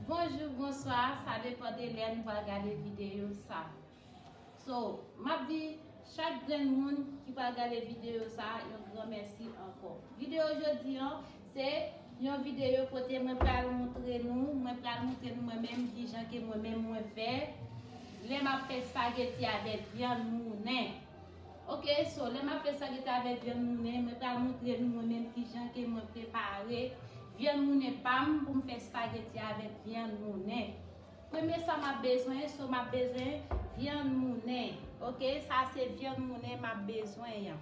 Bonjou, bonswa, sa depan de lè nou pral gade videyo sa. So, m ap di chak grenn moun ki pral gade videyo sa yon gran mèsi ankò. Videyo jodi an, se yon videyo kote mwen pral montre nou, mwen pral montre nou mwen menm ki jan ke mwen menm mwen fè lè m ap fè spageti avèk vyann mounen. Ok so lè map fè salite avèk vyann mounen mwen pral moutre nou mwen menm kijan ke mwen prepare vyann mounen pam poum fè spaghetti avèk vyann mounen premye sa map bezwen so map bezwen vyann mounen ok sa se vyann mounen map bezwen an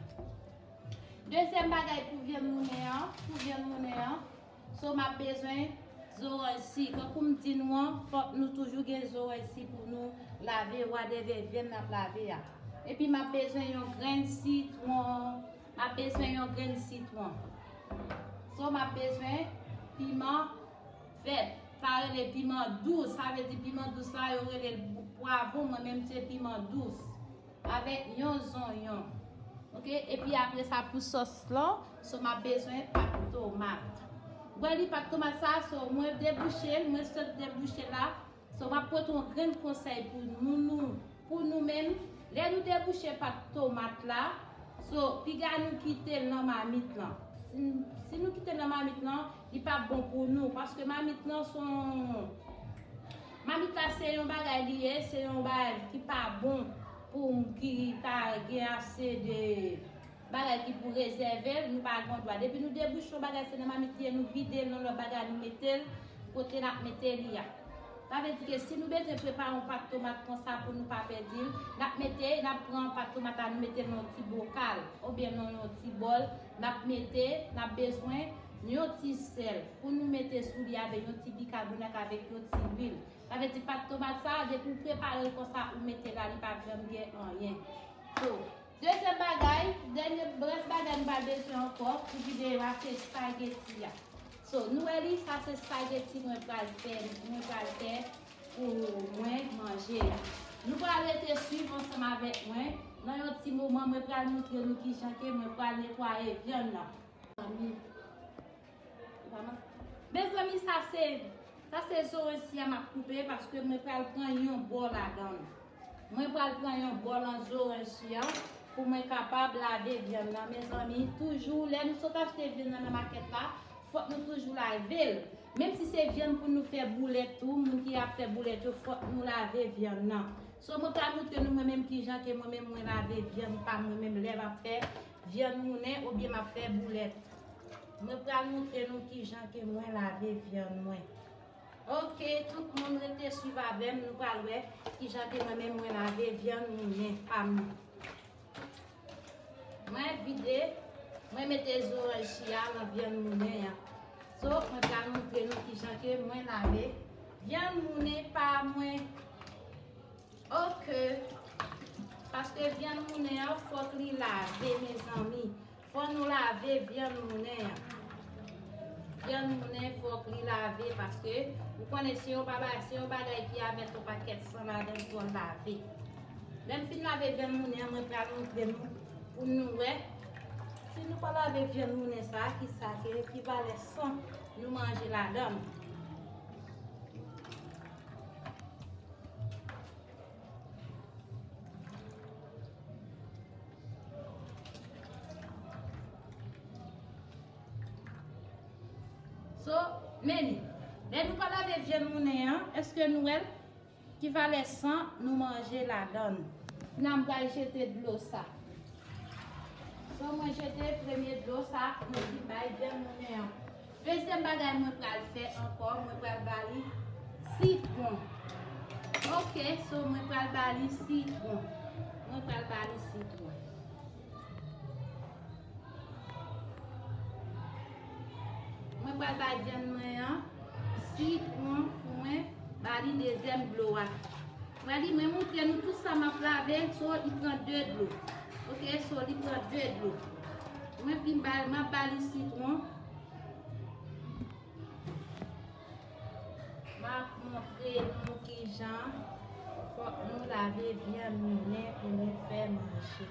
dezyèm bagay pou vyann mounen an pou vyann mounen an So map bezwen zoranj si tankou m di nou an fòk nou toujou gen zoranj si pou nou lave wa de vèvyèn nap lave a. Epi map bezwen yon grenn sitwon map bezwen yon grenn sitwon. So map bezwen piman vèt sa rele piman dous sa vle di piman dous la yo rele l pwavon mwen menm se piman dous. Avek yon zonyon ok epi apresa pou sos la so map bezwen pat tomat wè li pat tomat sa so mwen debouchel mwen sot debouchel la so map pot yon grenn konsèy pou nou nou pou nou menm lè nou debouche pat tomat la so piga nou kitel nan mamit lan si nou kitel nan mamit lan Li pap bon pou nou paske mamit lan son mamit la se yon bagay li ye se yon bagay ki pa bon pou moun ki pa gen ase de bagay ki pou rezèvel nou pa gon dwa depi nou debouche yon bagay se nan mamit li ye nou videl nan lòt bagay nou metel kote nap mete li a sa vle di ke si nou bezwen prepare yon pat tomat konsa pou nou pa pèdil nap mete nap pran pat tomat la nou metel nan yon ti bokal oubyen nan yon ti bòl Nap mete, nap bezwen, yon ti sèl pou nou mete sou li avè yon ti bikabonak avèk yon ti lwil. Sa vle di pat tomat sa a depi ou prepare l konsa ou mete la li pap janm gen anyen. So, dezyèm bagay, dènye rès bagay nou pral bezwen ankò pou videyo a se spageti a. So, nou wè li, sa se spageti mwen pral fè, mwen pral fè Pou mwen manje. Nou pral rete swiv ansanm avèk mwen, nan yon ti moman mwen pral moutre nou kijan ke mwen pral netwaye vyann nan. Mezanmi sa se, sa se zoransia map koupe paske mwen pral pran yon bò ladann. Mwen pral pran yon bò lan zoransia pou mwen kapab lave vyann nan mezanmi toujou lè nou sot achte vyann nan nan makèt la fòk nou toujou lavel. Menm si se vyann pou nou fè boulèt tou moun ki ap fè boulèt yo fòk nou lave vyann nan. So mwen pral moutre nou mwen menm kijan ke mwen menm mwen lave vyann pam mwen menm lèm ap fè vyann mounen oubyen map fè boulèt. Mwen pral moutre nou kijan ke mwen lave vyann mwen. Ok tout moun rete swiv avèm nou pral wè kijan ke mwen menm mwen lave vyann mounen pam nan. Mwen vide, mwen mete zoranj chia nan vyann moulen an. So, mwen pral montre nou kijan ke mwen lave vyann moulen pa mwen. Ok! Paske vyann moulen an fòk li lave mezanmi. Fò nou lave vyann mounen an. Vyann mounen fòk li lave paske ou konnen se yon babay, se yon bagay ki a mèt yon pakèt san ladan l fò l lave. Lè m fin lave vyann mounen an mwen pral montre nou pou nou wè si nou pa lave vyann mounen sa a ki sa ke ki valè san nou manje ladan l. So, meni, lè nou pa lave vyann mounen an, eske nou wèl? Ki valè san nou manje ladann? Nan m pral jete dlo sa. So mwen jete premye dlo sa mwen ki bay vyann mounen an. Dezyèm bagay mwen pral fè ankò mwen pral ba li sitwon ok so mwen pral ba li sitwon mwen pral ba li sitwon mwen pral bay vyann mwen an sitwon pou mwen ba li dezyèm dlo a mwen li mwen montre nou tout sa map lave so li pran 2 dlo ok so li pran 2 dlo mwen fin ba li map ba li sitwon. Map montre nou kijan fok nou lave vyann moulen pou nou fè manje.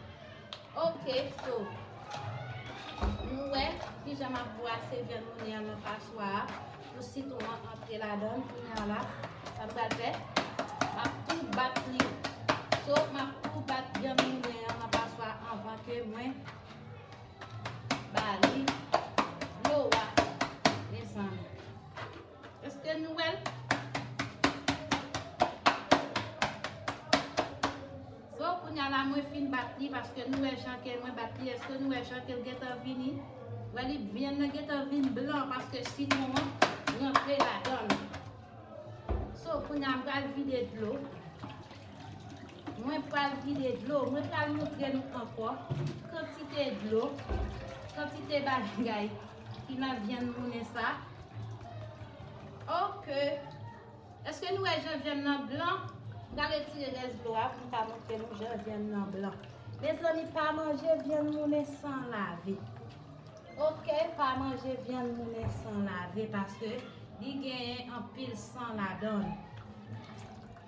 Ok so, nou wè kijan map bwase vyann moulen an nan paswa a pou sitwon an antre ladan l. Kounya la, sa m pral fè, map tou bat li. So, map tou bat vyann moulen an nan paswa anvan ke mwen Bali, dlo a, desann. Eske nou wè l? So, kounye a la mwen fin bat li, paske nou wè jan ke mwen bat li, eske nou wè jan ke l gen tan vini? Wè li, vyann nan gen tan vin blan, paske sitwon an rantre ladan l. So, kounye a m pral vide dlo. Mwen pral vide dlo. Mwen pral montre nou ankò kantite dlo, kantite bagay ki nan vyann mounen sa. Ok! Eske nou wè jan vyann nan blan? M pral retire rès dlo a pou m ka montre nou jan vyann nan blan. Mezanmi, pa manje vyann mounen san lave. Ok, pa manje vyann mounen san lave paske li genyen anpil san ladan l.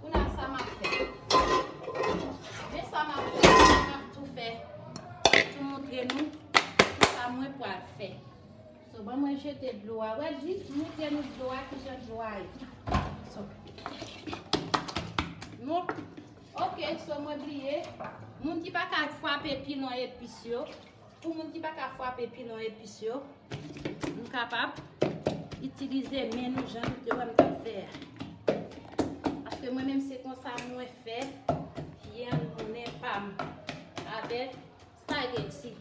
Kou nan sa map fè. Men sa map fè. Map tou fè. Tou moutre nou. Sa mwen pwal fè. So ban mwen jete dlo a. Wè di. Tou moutre nou dlo a. Ki jan dlo a e. So. Nou. Ok. So mwen bliye. Moun ki pa ka fwape pilon epis yo. Ok. Pou moun ki pa ka fwape pilon epis yo, nou kapab itilize men nou jan nou te wè m t ap fè a. Paske mwen menm se konsa mwen fè vyann pounen pa m avèk spaghetti.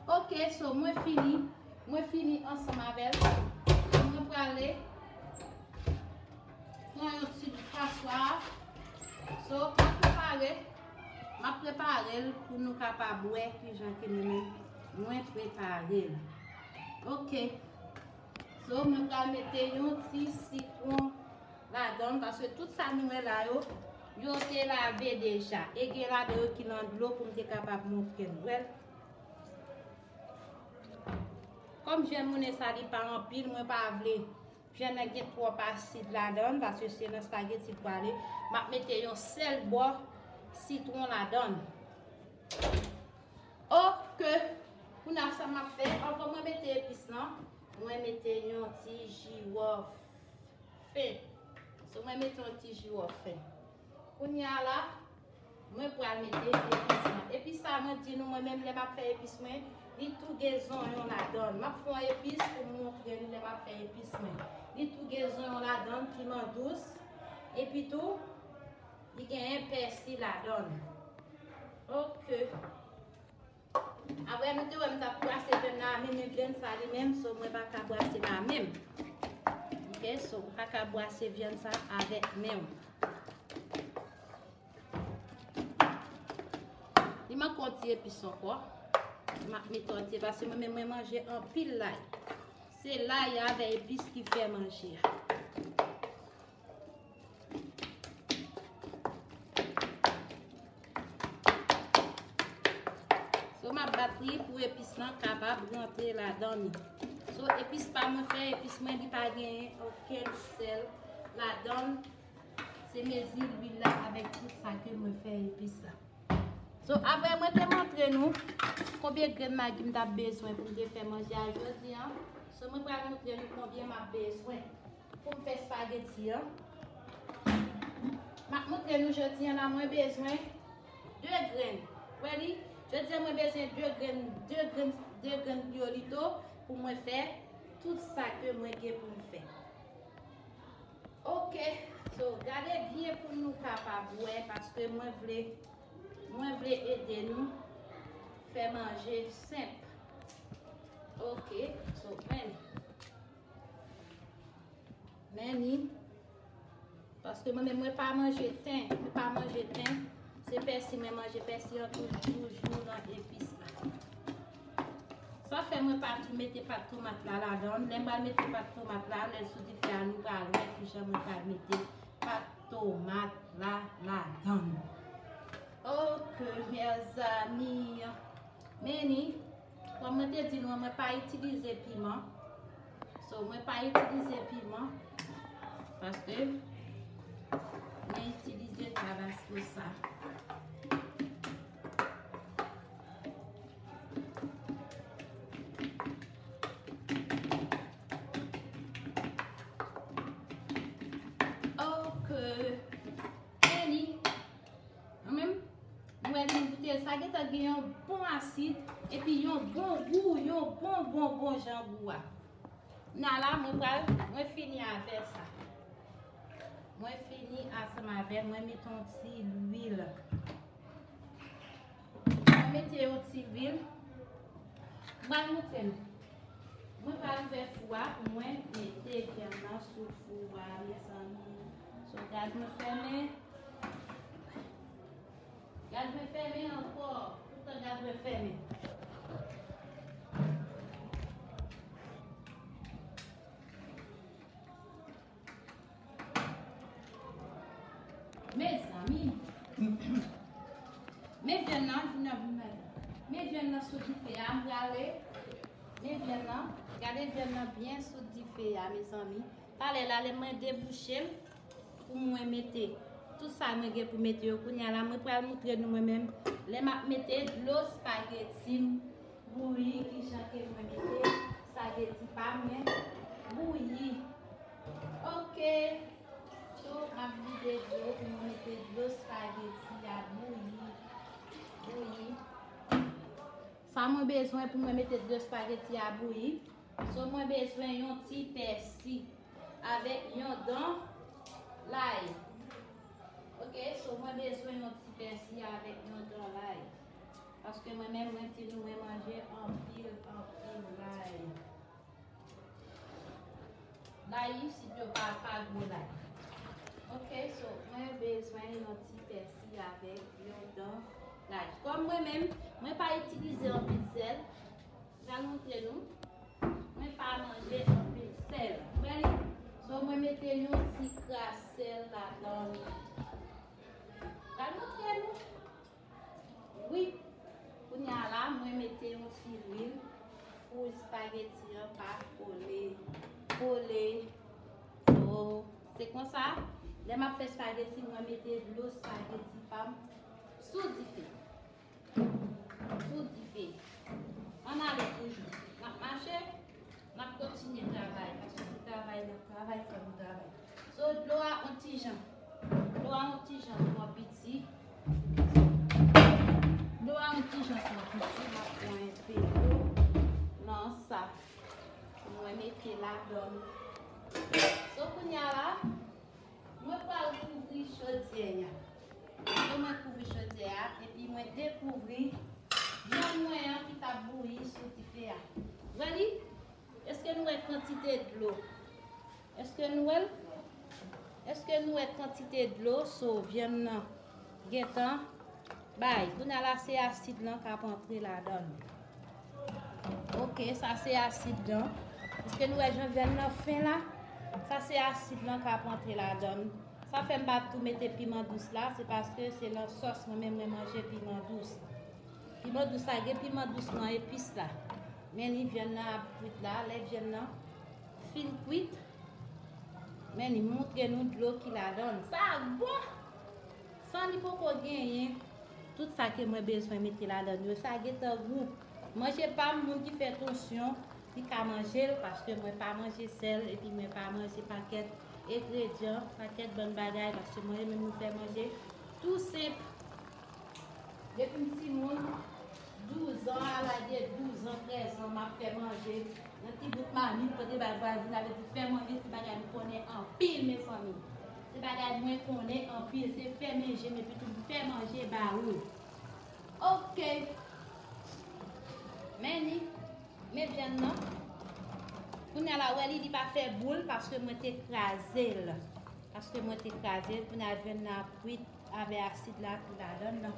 Ok so mwen fini Mwen fini ansan mavel Mwen prale Pran yon ti bout paswa So mwen prepare Mwen prepare l pou nou kapab we kijan ke mwen men Mwen prepare l Ok So mwen prale mete yon ti sitron Ladann paske tout sa nou wè la yo yo te lave deja e gen ladan yo ki nan dlo poum te kapab montre nou wèl kòm jèn moune sa li pa anpil mwen pa vle jèn nan gen twòp asid ladann paske se nan spageti li prale map mete yon sèl bò sitron ladann ok kounye sa map fè anvan mwen mete epis lan mwen mete yon ti jiwòf. Fen. So mwen mete yon ti jiwo fen. Kounye a la, mwen pral mete epis lan. Epis sa mwen di nou mwen menm lè map fè epis mwen, li tou gen zonyon ladann. Map fè yon epis pou m montre nou lè map fè epis mwen. Li tou gen zonyon ladann, piman dous, epi tou li genyen pèsi ladann. Ok. Aprè nou te wèm tap brase vèm nan amen men vyann sa li menm so mwen paka brase nan menm ok so paka brase vyann sa avèk menw li manke yon ti epis ankò map mete yon ti epis paske mwen menm mwen manje anpil lay se lay avè epis ki fè manje a. So m ap bat li pou epis lan kapab rantre ladan li. So epis pa mwen fè, epis mwen li pa gen oken sèl ladan. Se mezi li la avèk tout sa ke mwen fè epis la. So apre mwen te montre nou konbyen grenn magi m ta bezwen pou m te fè manje a jodi an. So mwen pral montre nou konbyen m ap bezwen. Poum fè spaghetti an. Map montre nou jodi an la mwen bezwen 2 grenn. Ready? Jodi an mwen bezwen 2 grenn 2 grenn 2 grenn piyolito pou mwen fè tout sa ke mwen gen poum fè. Ok. So gade byen pou nou kapab wè paske mwen vle mwen vle ede nou fè manje senp. Ok. So mwen. Men ni. Paske mwen men mwen pa manje ten. Mwen pa manje ten. Se pèsi mwen manje. Pèsi an tou joujou nan epis la. Sa fè mwen pa tou mete pat tomat la la dan. Lè mwen mete pat tomat la. Lè sou di fè anou pa lè. Fou jan mwen pa mete pat tomat la la dan. Ok. Mèzami. Men ni. Kòm mwen te di nou an mwen pa itilize piman. So mwen pa itilize piman. Paske mwen itilize tabasko sa. Mwen menm, mwen wè li m goute l, sa gentan gen yon bon asid, epi yon bon gou, yon bon bon bon jan gou a. Na la, mwen pral, mwen fini avè sa. Mwen fini asanm avè l, mwen met yon ti lwil. Mwen met yon ti lwil. Mwen moute l. Mwen pral ouvè fou a, mwen mete vyann nan sou fou a, mezanmi. Sou gaz mwen fèmen. Gad mwen fèmen ankò. Tout tan gad mwen fèmen. Mezanmi. Men vyann nan vin nan vin nan. Men vyann nan sou dife a. M prale. Men vyann nan. Gade vyann nan byen sou dife a mezanmi. Talè la lè mwen debouche l. Pou mwen mete tout sa mwen gen pou mete yo kounya la mwen pral moutre nou mwen menm lè map mete dlo spaghetti m bouyi kijan ke mwen mete spaghetti pa mwen bouyi ok tou map vide dlo pou mwen mete dlo spaghetti a bouyi bouyi sa mwen bezwen pou mwen mete dlo spaghetti a bouyi so mwen bezwen yon ti pèsi avèk yon dan lay ok so mwen bezwen yon ti pèsi avèk yon dan lay paske mwen menm mwen ti nou mwen manje anpil anpil lay lay isit yo pa pa gwo lay ok so mwen bezwen yon ti pèsi avèk yon dan lay kòm mwen menm mwen pa itilize anpil sèl Pral montre nou Mwen pa manje anpil sèl ou wè li so mwen mete yon ti kras sèl ladan li pral montre nou wi kounya la mwen mete yon ti lwil pou spageti an pa kole kole so se konsa lè map fè spageti mwen mete dlo spageti pam sou dife. Kou dife. An ale toujou. N ap mache, n ap kontinye travay. Paske se travay n ap travay, fò nou travay. So, dlo a on ti jan. Dlo a on ti jan twò piti. Dlo a on ti jan twò piti. N ap pran enpe dlo nan sa. Mwen mete ladan. So, kounye a la, Mwen pral kouvri chodyè a. Apre mwen kouvri chodyè a, epi mwen dekouvri vyann mwen an ki t ap bouyi sou dife a. Wè li? Èske nou wè kantite dlo? Èske nou wè l? Èske nou wè kantite dlo sou vyann nan? Gentan bay kounya la se asid lan kap antre ladann ok sa se asid lan piske nou wè jan vyann nan fen la sa se asid lan kap antre ladann sa fèm pa tou mete piman dous la se paske se lan sòs mwen menm mwen manje piman dous piman dous la gen piman dous lan epis la men ni vyann nan ap kwit la lè vyann nan fin kwit men ni moutre nou dlo ki ladann sa bon. San li poko genyen tout sa ke mwen bezwen mete ladann yo sa gentan gou. Manje pam moun ki fè tonsyon li ka manjel paske mwen pa manje sèl epi mwen pa manje pakèt egredyan, pakèt bann bagay paske mwen renmen moun fè manje tou senp depim timoun 12 ans a lage 12 ans 13 ans map fè manje nan ti bout mamit pote bay vwazin avedi fè manje se bagay m konnen anpil mezanmi. Se bagay mwen konnen anpil se fèmen jem epitou m fè manje ba ou ok men li met vyann nan kounya la wè li li pa fè boul paske mwen te krazel paske mwen te krazel kounya vyann nan ap kwit avè asid la ki ladann nan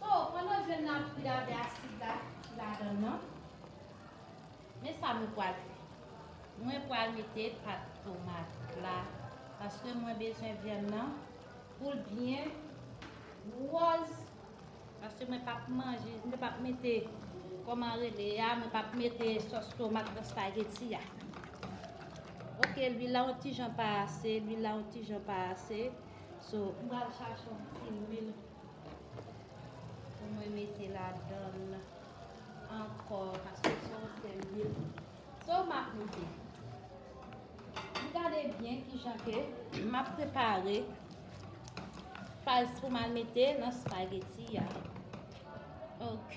so pandan vyann nan ap kwit avè asid la ki ladann nan. Men sa mwen pwal fè. Mwen pwal mete pat tomat la paske mwen bezwen vyann nan poul byen wòz paske mwen pap manje mwen pap mete kòman rele a mwen pap mete sòs tomat nan spageti a. Ok lwil la yon ti jan pa ase lwil la yon ti jan pa ase so m pwal chache yon ti lwil pou mwen mete ladann. Ankò paske son sèvil. So map mete. M gade byen ki jan ke map prepare faz pou mal mete nan spageti ya. Ok.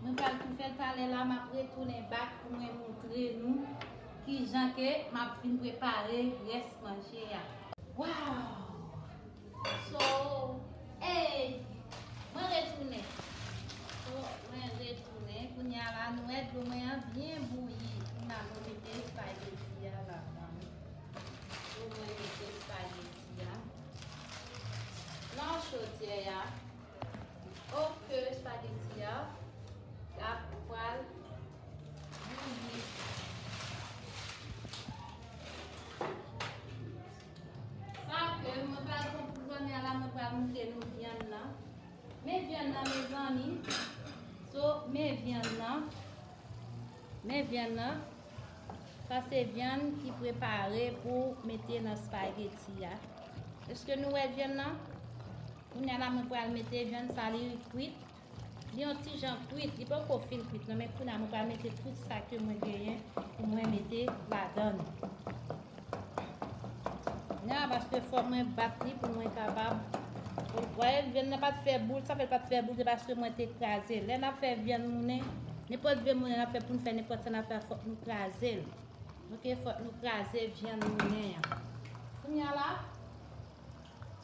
Mwen pral tou fèl talè la map retounen back pou mwen moutre nou kijan ke map fin prepare rès manje a. Waww so hey mwen retounen so mwen retounen kounya la nou wè dlo mwen an byen bouyi kounya mwen mete spaghetti a ladan so mwen mete spaghetti a lan chodyè a. Oh ke spaghetti ya ap pral bouyi. Sa ke mwen pral pran pou zanmi a la mwen pral moute nou vyann nan. Men vyann nan me zanmi. So men vyann nan. Men vyann nan. Sa se vyann ki prepare pou mete nan spaghetti ya. Eske nou wè vyann nan? Kounya la mwen pral mete vyann sa li kwit, li yon ti jan kwit, li poko fin kwit nan men kounya mwen pral mete tout sa ke mwen genyen pou mwen mete ladann. Kounya la paske fò mwen bat li pou mwen kapab wè vyann nan pat fè boul, sa fè l pat fè boul se paske mwen te kraze. Lè nap fè vyann mounen, nenpòt vyann mounen nap fè poun fè nenpòt sa nap fè fòk nou kraze l. Ok fòk nou kraze vyann mounen an. Kounya la.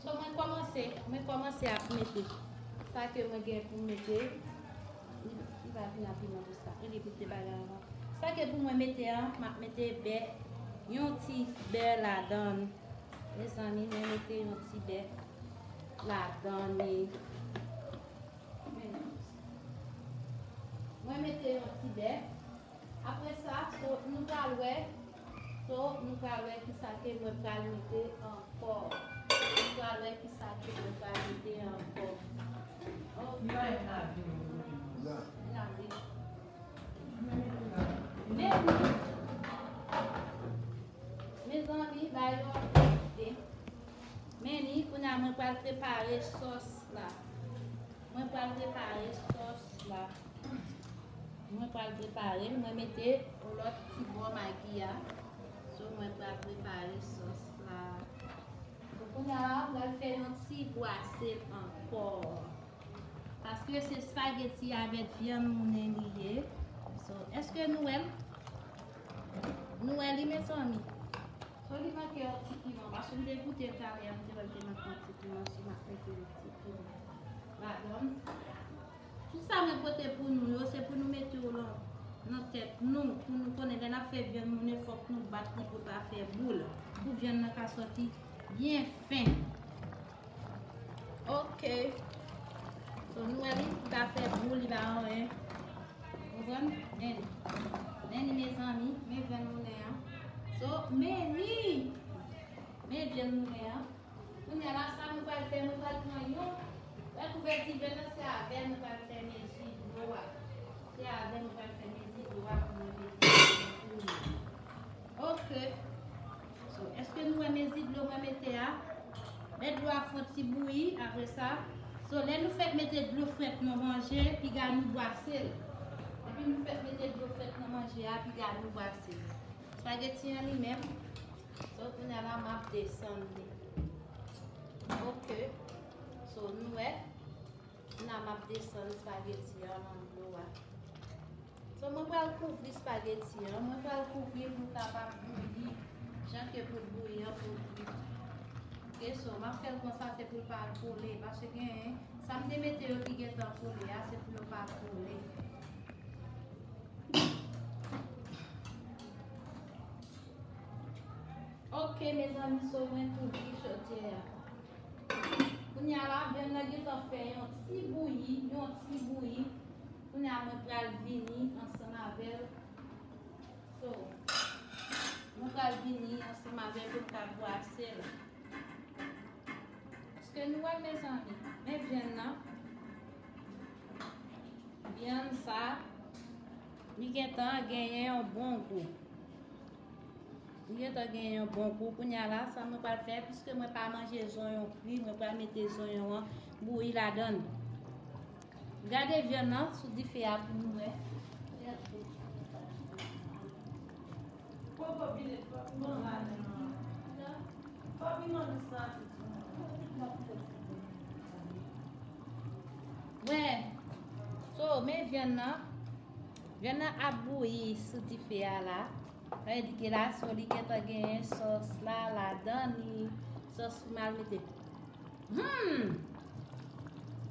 So mwen komanse, mwen komanse ap mete sa ke mwen gen pou mete, li va vin ap piman pou sa, li goute bagay avan. Sa ke pou mwen mete an, map mete bè, yon ti bè ladann. Mezanmi mwen mete yon ti bè ladann ni. Mwen mete yon ti bè. Apre sa, so nou pral wè, So nou pral wè kisa ke mwen pral mete ankò. Nou pral wè kisa ke mwen pral mete ankò. Li pa yon lavi non pou mwen non. La. La wi. Mwen mete la. Mezanmi. Mezanmi ba yo anpil ide. Meni kounya mwen pral prepare sòs la. Mwen pral prepare sòs la tou. Mwen pral preparel mwen mete yon lòt ti bò magi a so mwen pral prepare sòs la bon kounya m pral fè yon ti bwase l ankò paske se spageti avèk vyann mounen li ye so eske nou wèl nou wè li mezanmi so li manke yon ti piman paske m te goutel talè an m te wèl te manke yon ti piman so m ap mete yon ti piman. Pardon. Tout sa mwen pote pou nou yo se pou nou mete yo lan nan tèt nou pou nou konnen lè nap fè vyann moulen fòk nou bat li pou pa fè boul pou vyann nan ka sòti byen fen. Ok. So nou wè li pa fè boul li pa anyen. Konprann? Nen. Nen ni mezanmi, men vyann moulen an. So meni. Men vyann moulen an. Kounya la sa nou pral fè nou pral pran yon wè kouvèti vèt lan se avèl nou pral fè mezi dlo a se avèl nou pral fè mezi dlo a pou mwen mete nan kou nou ok so eske nou wè mezi dlo mwen mete a lè dlo a fon ti bouyi apre sa so lè nou fèk mete dlo frèt nan manje piga nou bwase l depi nou fèk mete dlo frèt nan manje a piga nou bwase l spageti an li menm So kounya la map desann li. Ok. So nou wè. Kounya map desann spageti an nan dlo a. So mwen pral kouvri spageti an. Mwen pral kouvri pou kapab bouyi. Jan ke pou bouyi an pou bouyi. Ok so map fèl konsa se pou l pa kole. Pase gen. Sa m te mete yo ki gen tan kole a se pou yo pa kole. Ok mezanmi so mwen tou bouyi chodyè a. Kounye a la vyann nan gentan fè yon ti bouyi, yon ti bouyi. Kounye a mwen pral vini ansanm avèl. So mwen pral vini ansanm avèl pou m ka bwase l. Eske nou wè mezanmi? Men vyann nan. Vyann sa, li gentan genyen yon bon gou. Li gentan genyen yon bon gou. Kounya la, sa mwen pral fè, pwiske mwen pa manje zonyon kri, mwen pral mete zonyon an bouyi ladan. Gade vyann nan sou dife a pou nou wè. Koko vine fok nou an madanm nan pita fok nou mande san atik sou moun nan. Koko pita pou fè ti moun ale. Mwen So men vyann nan. Vyann nan ap bouyi sou dife a la. Sa vle di ke la so li gentan genyen sos la ladan li. Sos pou mal mete. Humm!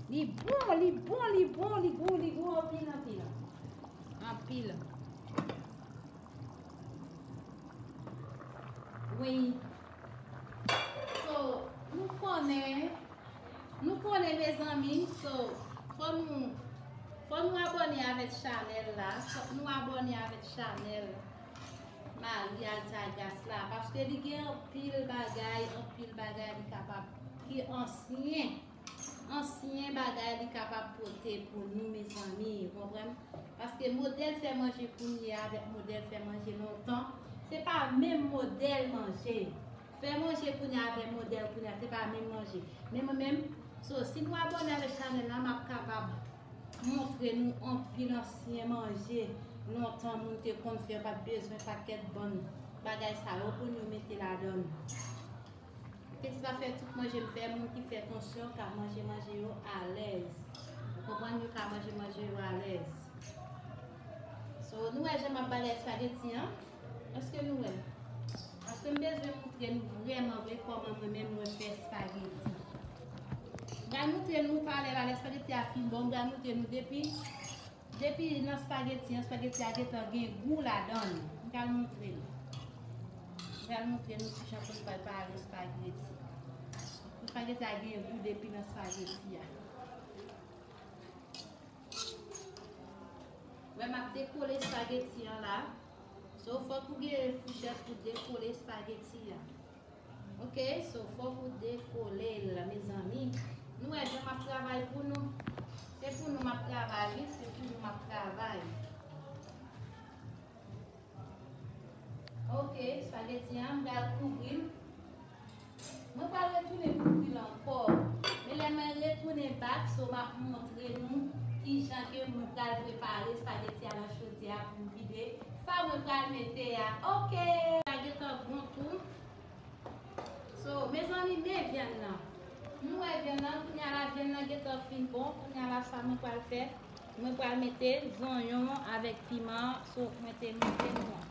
Li bon, li bon, li bon, li gou, li gou anpil anpil. Anpil. Weyy So nou konnen Nou konnen mezanmi So fò nou Fò nou abòne avèk chanèl la Fòk nou abòne avèk chanèl Marie Altagrace la Paske li gen anpil bagay Anpil bagay li kapab Ki ansyen Ansyen bagay li kapab pote pou nou mezanmi ou konprann paske modèl fè manje kounye avèk modèl fè manje lontan se pa menm modèl manje fè manje kounye avèk modèl kounye se pa menm manje men mwen menm so si nou abòne avèk chanèl la map kapab montre nou anpil ansyen manje lontan moun te konn fè yo pat bezwen pakèt bann bagay sa yo pou nou mete ladann. Piti pa fè tout manje m fè moun ki fè tansyon ka manje manje yo alèz ou konprann yo ka manje manje yo alèz so nou wè jan map bagay spageti an eske nou wè paske m bezwen moutre nou vrèman vre kòman mwen menm mwen fè spageti m pral moutre nou pale pale spageti a fin bon m pral moutre nou depi Depi nan spaghetti an, spaghetti a gentan gen gou ladann. M pral montre nou. M pral montre nou ki jan pou nou prepare spaghetti. Spaghetti a gen gou depi nan spaghetti a. Wè m ap dekole spaghetti an la. So fòk ou gen fouchèt pou dekole spaghetti a. Ok so fok ou dekolel mezanmi nou wè jan map travay pou nou se pou nou map travay wi se pou nou map travay ok spaghetti an bel kouvril mwen pa retounen kouvril anko men lè mwen retounen bak so map montre nou kijan ke mwen pral prepare spaghetti a nan chodyè a pou m vide Sa mwen pral mete a ok. Sa gentan bon tou. So mezanmi men vyann nan. Nou wè vyann nan kounya la vyann nan gentan fin bon kounya la sa mwen pral fè mwen pral mete zonyon avèk piman so mwen te moutre nou an.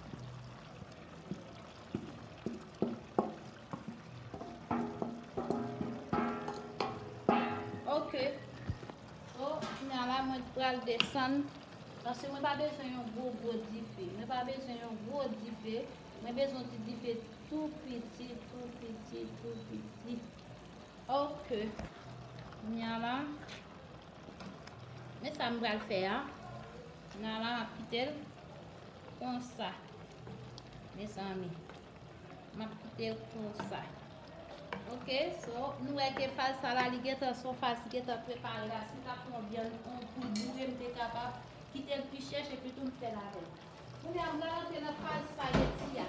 Ok so kounya la mwen pral desann. Paske mwen pa bezwen yon gwo gwo dife. Mwen pa bezwen yon gwo dife. Mwen bezwen yon ti dife tou piti, tou piti, tou piti. Ok. Kounye a la. Men sa m pral fè a. Kounye a la, m ap kite l. Konsa. Mezanmi. Map kitel konsa. Ok so nou wè ke faz sa la li gentan son faz ki gentan prepare la si ta pran vyann an poul boure m te kapab kitel pi chèch epi tou m fèl avèl. Kounya m pral antre nan faz spaghetti a.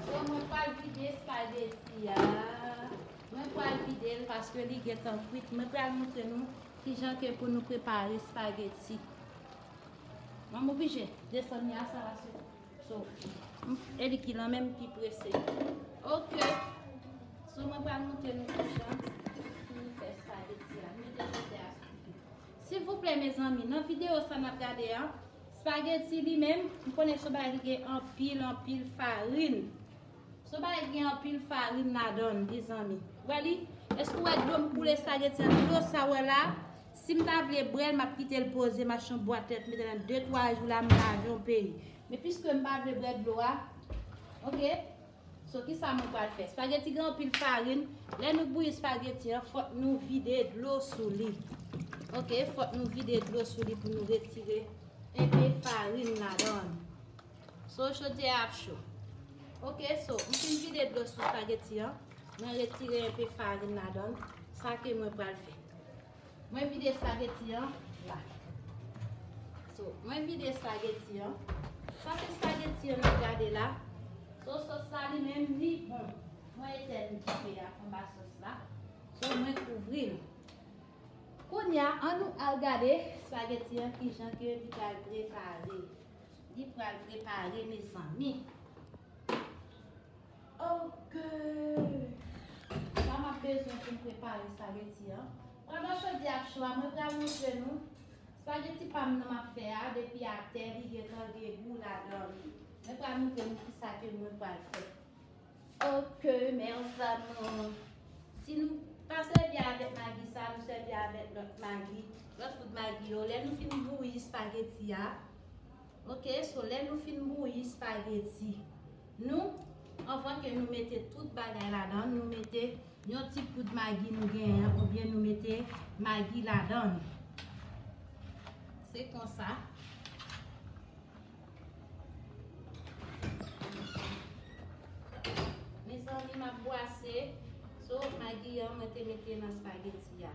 So mwen pral vide spaghetti a. Mwen pral videl paske li gentan kwit. Mwen pral montre nou kijan ke pou nou prepare spaghetti. Mwen oblije desann mi a sa la sou. So e li ki lan menm ki prese. Ok. So mwen pral montre nou ki jan pou nou fè spaghetti a. Mwen te jete a sou tou. Silvouplè mezanmi, nan video sa nap gade a, spaghetti li menm, m konnen son bagay ki gen anpil anpil farin. Son bagay ki gen anpil farin ladan li zanmi. Wè li? Eske ou wè dlo m koule spaghetti a? Dlo sa ou wè la? Si m ta vle brèl m ap kite l poze m ap chanbwa tèt m nan 2 3 jou la m lave yon peyi men piske m pa vle brè dlo a ok so kisa mwen pral fè spageti gen anpil farin lè nou bouyi spageti an fòk nou vide dlo sou li ok fòk nou vide dlo sou li pou nou retire enpe farin ladan l so chodyè a ap cho ok so m fin vide dlo sou spageti an. Mwen retire enpe farin ladan l. Sa ke mwen pral fè. Mwen vide espageti an la. So, mwen vide espageti an. Sak espageti an nap gade la. So, sos la li menm li bon. Mwen etèn dife a anba sos la. So, mwen kouvri l. Kounya, an nou al gade espageti an ki jan ke li pral prepare. Li pral prepare mezanmi. Ok Sa map bezwen poum prepare spaghetti an Pandan chodyè ap cho a mwen pral montre nou Spaghetti pam nan map fè a depi atè li gentan gen gou ladan li Mwen pral montre nou kisa ke mwen pral fè Ok mes amours Si nou pa sèvi avèk magi sa nou sèvi avèk lòt magi lòt poud magi yo lè nou fin bouyi spaghetti a. Ok so lè nou fin bouyi spaghetti nou anvan ke nou mete tout bagay ladan nou mete yon ti poud maggi nou genyen ou byen nou mete maggi ladan se konsa mezanmi map bwase so maggi an mwen te mete nan spaghetti a.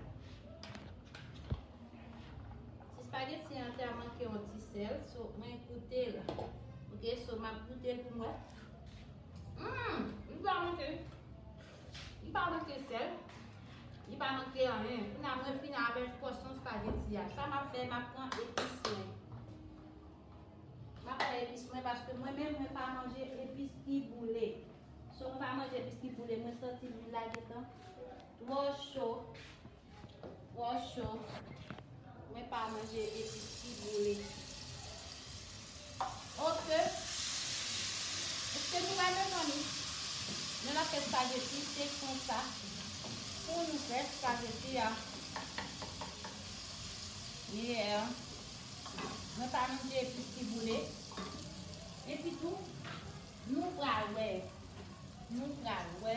Ti spaghetti an te manke yon ti sel, so mwen goute l. Ok, so map goute l pou mwen. Mmm, li pa manke. Li pa manke sel. Li pa manke anyen. Kou na mwen fini avek pòsyon spaghetti a. Sa map fè, map pran epis mwen. Map pran epis mwen paske mwen menm mwen pa manje epis ki boule. So mwen pa manje epis ki boule, mwen santi lwil la gentan twò cho. Twò cho. Mwen pa manje epis ki boule. Ok. Eske nou wè mezanmi? Mwen ap fè spageti. Se konsa pou nou fè spageti a. Yeah. Mwen pa manje epis ki boule. Epitou, nou pral wè. Nou pral wè.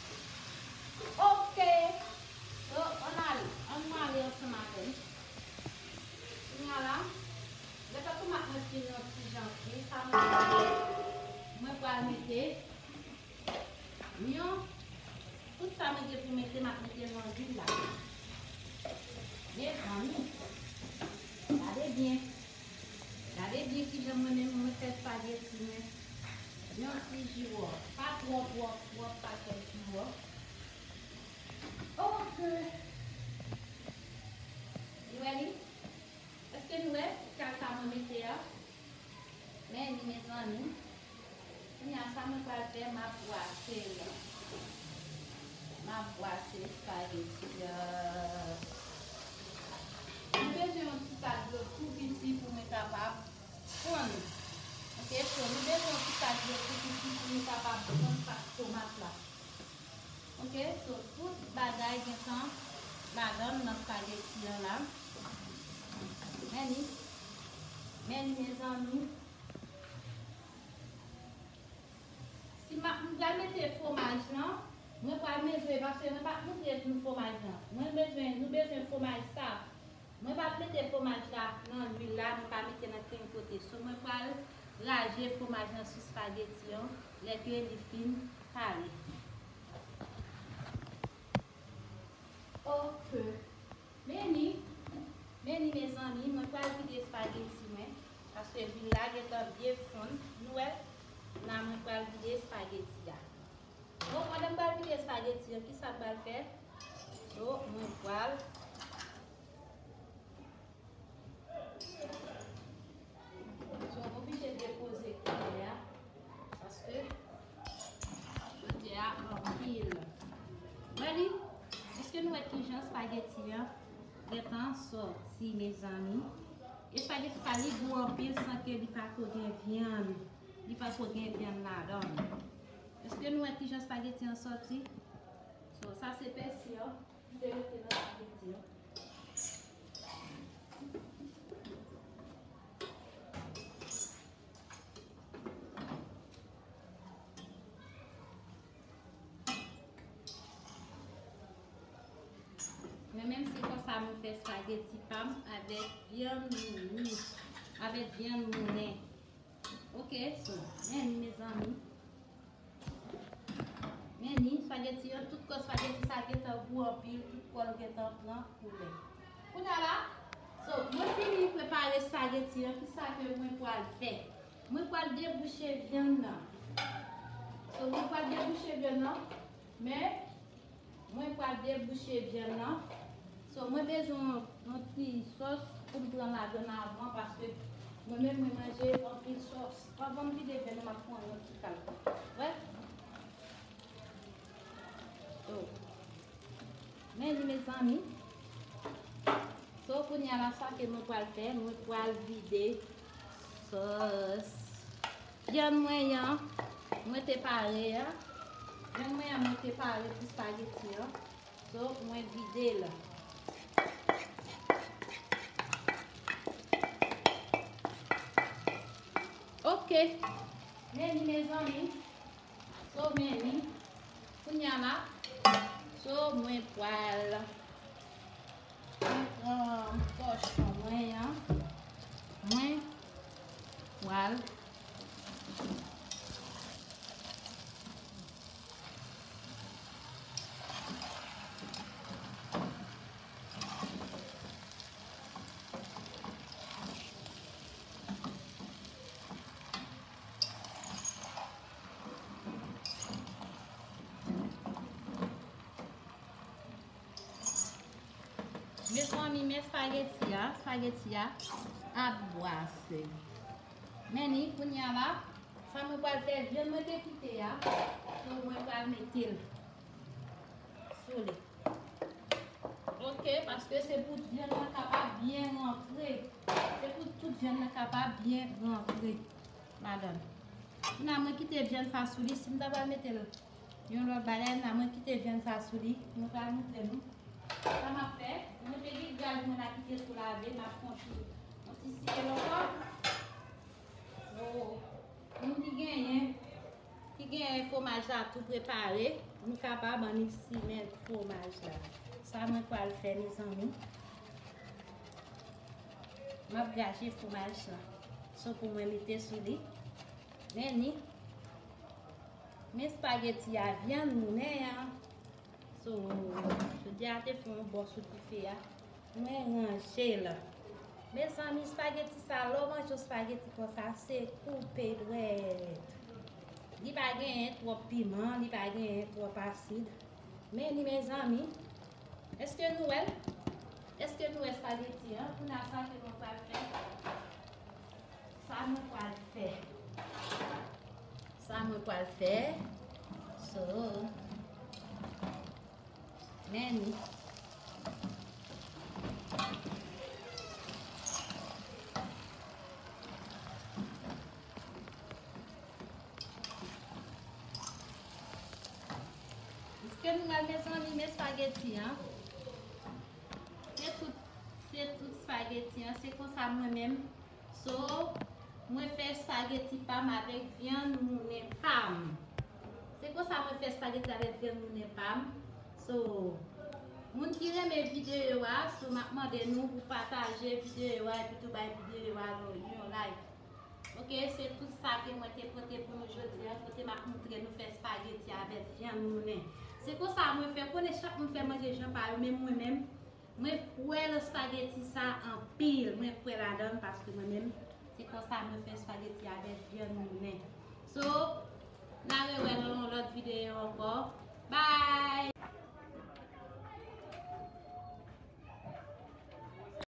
Ok so ann ale an nou ale ansanm avèm kounya la lè pè tomat mwen fin yon ti jan fri sa mwen pral fè mwen pral mete yon tout sa mwen gen pou mete map metel nan lwil la mezanmi gade byen Gade byen kijan mwen menm mwen fè spaghetti mwen yon ti jiwo pa twò twòp twòp pa twò jiwo ok nou wè li eske nou wè kal sa mwen mete a men li mezanmi. Kounya sa mwen pral fè map bwase yo map bwase spaghetti yo mwen bezwen yon ti sa dlo tou piti pou mwen kapab fonn ok so nou bezwen yon ti sa dlo tou piti pou nou kapab fonn pat tomat la ok so tout bagay gentan ladann nan spaghetti an la meni meni mezanmi. Si map m pral mete fwomaj lan mwen pral mezire paske mwen pap moutre nou fwomaj lan mwen bezwen nou bezwen fwomaj saf mwen pap mete fwomaj la nan lwil la mwen pa mete nan ken kote so mwen pral raje fwomaj lan sou spageti an lè ke li fin pare ok. Meni Meni mezanmi mwen pral vide spaghetti mwen paske lwil la gentan byen fonn nou wè la mwen pral vide spaghetti a bon pandan m pral vide spaghetti an kisa m pral fè so mwen pral. Mwen oblije depoze koulye a paske koulye a anpil. Ready? Eske nou wè kijan spaghetti an gentan sòti mezanmi? E spaghetti sa li gou anpil san ke li pa ko gen vyann. Li pa ko gen vyann ladan l. Eske nou wè kijan spaghetti an sòti? So sa se pèsi an. Mwen menm se konsa mwen fè spageti pam avèk vyann mouni, avèk vyann mounen. Ok so meni mezanmi. Meni spaghetti yo tout kò spaghetti sa gentan gou anpil tout kòl gentan pran koulè. Kounya la so mwen fini prepare spaghetti yo kisa ke mwen pwal fè? Mwen pwal debouche vyann nan. So mwen pwal debouche vyann nan. Men Mwen pral debouche vyann nan so mwen bezwen yon ti sos poum pran ladann avan paske mwen menm mwen manje anpil sos anvanm vide vyann nan map pran yon ti kal wèl so men li mezanmi so kounya la sa ke mwen pral fè mwen pral vide Sòs vyann mwen an mwen te pare a. Vyann mwen an mwen te pare pou spageti an. So mwen vide l. Ok. Meni mezanmi. So many kounya la so mwen pwal mwen pran tòchon mwen an mwen pwal Mezanmi men spaghetti a, spaghetti a ap bwase. Men ni kounya la, sa mwen pral fè, vyann mwen te kite a, mwen pral mete l. sou li. Ok, paske se pou vyann nan kapab byen rantre. Se pou tout vyann nan kapab byen rantre ladan. Kounya mwen kite vyann sa sou li. Si m ta pral mete l yon lòt bagay, la mwen kite vyann sa sou li. Mwen pral montre nou sa m ap fè. Mwen te gen gaz mwen la ki te sou lave. M ap kontinye. Mwen ti siye l ankò. Moun ki genyen, ki genyen fwomaj la tou prepare, nou kapab an nou simen fwomaj la. Sa mwen pral fè nou zanmi. Mwen ap graje fwomaj la. Sou pou mwen mete sou li. Men ni. Men spageti a vyan nou nen an. Sou, jodi a te fwon bò sou dife a. Mwen ranje l. Mezanmi spaghetti sa lè w manje yon spaghetti konsa se koupe dwèt. Li pa genyen twòp piman, li pa genyen twòp asid. Men li mezanmi. Eske nou wè l? Eske nou wè spaghetti an? Kounye a sa ke mwen pral fè? Sa mwen pral fè? Sa mwen pral fè? So. Menn. Ske nou wèl mezanmi men spageti an. Se tout se tout spageti an se konsa mwen menm So mwen fè spaghetti pam avèk vyann mounen pam. Se konsa mwen fè spaghetti avèk vyann mounen pam. So moun ki renmen videyo a, so map mande nou pou pataje videyo a epi tou bay videyo a yon like. Ok se tout sa ke mwen te pote pou nou jodi an, kote map moutre nou fè spaghetti avèk vyann mounen. Se konsa mwen fè, konnen chak moun fè manje jan pa yo, men mwen menm Mwen kwè nan spaghetti sa anpil mwen kwè ladanl paske mwen menm se konsa mwen fè spaghetti avèk vyann moulen so na rewè nan yon lòt video ankò bye.